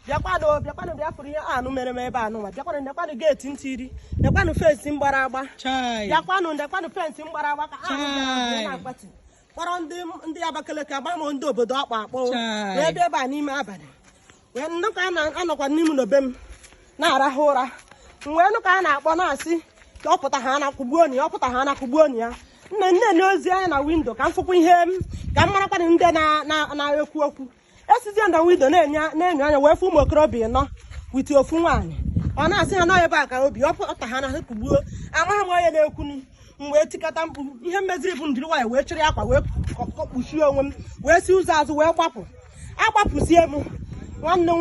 bịakwanụ bịakwanụ bịa fụrụ ihe anụ mere m ebe anụnwa bịakwanụ nekwanụ geeti m tiri nekwanụ fensi m gbara agba bịakwanụ nekwanụ fensi m gbara agba ka anụ na-agbati kpọrọ ndị Abakaliki ama m ndị obodo ọ kpọ akpọ wee bịa ebe a n'ime abalị wee nụ ka a na anọkwa n'ime na be m na-arahụ ụra wee nụ ka a na-akpọ na-asị ka ọ pụta ha na kụgbuo ya ọ pụta ha na kụgbuo ya na m na-enyozi anya na windo ka m fụkwa ihe m ka m marakwanụ ndị na-ekwu okwu esizie m na windo na-enyo na-enyo anya wee fụ ụmụ okorobịa nọ witi ofu nwaanyị ọ na-asị ha na ebe a ka o bi ọ pụta ha na ha kụgbuo amaghị m onye na-ekwunu m wee tikata mkpu ihe m meziri bụ m duru nwaanyị wee chịrị akwa wee kpuchie onwe m wee si ụzọ azụ wee gbapụ agbapụzie m nwanne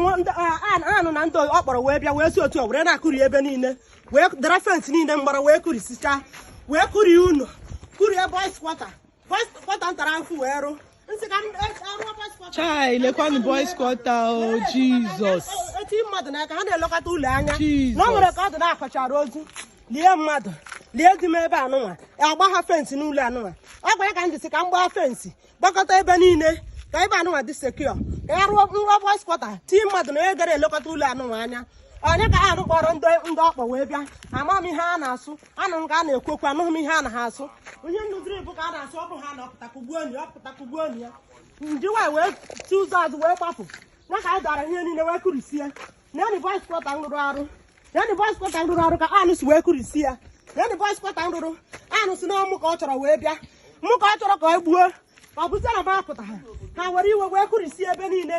anụ na ndị ọ kpọrọ wee bịa wee si otu ọ were na-akụri ebe niile wee dara fensị niile m gbara wee kụrisichaa wee kụrie ụlọ kụrie boys quarter Quarter m tara ahụ wee rụ. M sị ka m e, arụọ boys quarter. Chai, lekwanụ boys quarter o, oh, Jizọs. E, e tii mmadụ n'aka, ha na-elekọta ụlọ anya. Jizọs. Na o nwere ka ọ dị na akwachara ozu. Lie mmadụ. lie di m ebe anụnwa agbaha fensị n'ụlọ anụnwa ọ gwara ka m jisike m gbaa fensị gbakọta ebe niile ka ebe anụnwa dị secure ka ya rụọ nwa boys quarter tii mmadụ na onye ga na-elekọta ụlọ anụnwa anya onye ka ha kpọrọ ndị ọ kpọ wee bịa ama m ihe a na-asụ anụrụ m ka a na-ekwu okwu anụghị m ihe ha na-asụ ihe m nụziri bụ ka a na-asị ọ bụ ha na ọ pụta kụgbuo ya ọ pụta kụgbuo ya m duru nwaanyị wee si ụzọ azụ wee gbapụ na ka anụ dara ihe niile wee kụrisie na ya na boys quarter m rụrụ arụ ya na boys quarter m rụrụ arụ ka anụ si wee kụrisie ya ya na boys quarter m rụrụ anụ sị na ọ mụ ka ọ chọrọ wee bịa mụ ka ọ chọrọ ka ọ gbuo ọ bụzie na m apụtaha ha were iwe wee kụrisie ebe niile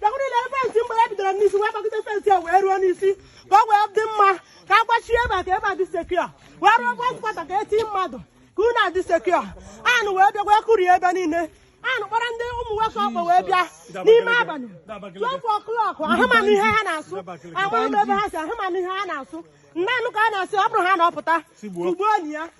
bịakwuru na fensị m gbara bidoro n'isi wee gbagide fensị a wee ruo n'isi ka ọ wee dị mma ka a gbachie ebe a ka ebe a dị secure wee rụọ boys quarter ka e tii mmadụ ka ụlọ a dị secure anụ wee bịa wee kụrie ebe niile anụ kpọrọ ndị ụmụ nwoke ọ kpọ wee bịa n'ime abalị two o'clock aha m anụ ihe ha na-asụ amaghị m ebe ha si aha m anụ ihe ha na-asụ m na-anụ ka a na-asị ọ bụrụ ha na ọ pụta kụgbuo ya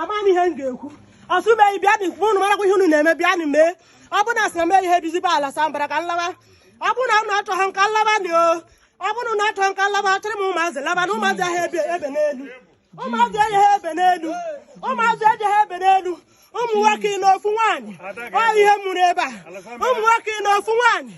amaghị ihe m ga-ekwu Ọsụmenyi bịanụ unu marakwa ihe unu na-eme bịanụ mee ọ bụrụ na asị na mee ihe bizi be Alasambara ka m laba ọ bụrụ na unu achọghị m ka m laba dị o ọ bụrụ na achọghị m ka m laba achịrị m ụmụazị laba na ụmụazị aha ebe ebe n'elu ụmụazị ejeha ebe n'elu ụmụazị ejeha ebe n'elu ụmụ nwoke na ofu nwaanyị ọ ihe m mụrụ ebe a ụmụ nwoke na ofu nwaanyị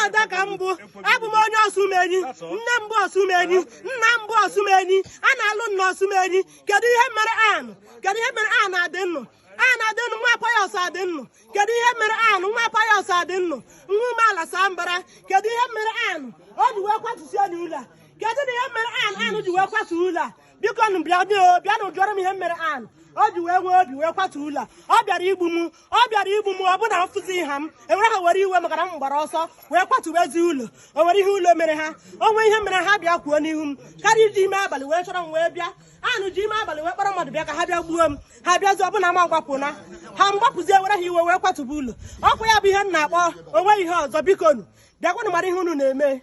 ada ka m bụ abụ m onye Ọsụmenyi nne m bụ Ọsụmenyi nna m bụ Ọsụmenyi a na-alụ m na Ọsụmenyi kedu ihe m mere Anụ kedu ihe m mere Anụ Adịnnụ Anụ Adịnnụ nwa Pius Adịnnụ kedu ihe m mere Anụ nwa Pius Adịnnụ nwa Ume Alasambara kedu ihe m mere Anụ o ji wee kwatusie ụlọ a kedunụ ihe m mere Anụ Anụ ji wee kwatu ụlọ a bikonụ bịa bịanụ jụọrọ m ihe m mere Anụ o ji wee nwee obi wee kwatu ụlọ a ọ bịara igbu m ọ bịara igbu m ọ bụ na afụzi ha m enwere ha were iwe maka na m gbara ọsọ wee kwatubezi ụlọ o nwere ihe ụlọ mere ha o nwe ihe m mere ha bịa kwuo n'ihu m karịa iji ime abalị wee chọrọ m wee bịa anụ ji ime abalị wee kpọrọ mmadụ bịa ka ha bịa gbuo m ha bịazi ọ bụ na m gbapụna ha m gbapụzie were ha iwe wee kwatuba ụlọ ọ kwa ya bụ ihe m na-akpọ o nwe ihe ọzọ bikonu bịakwanụ mara ihe unu na-eme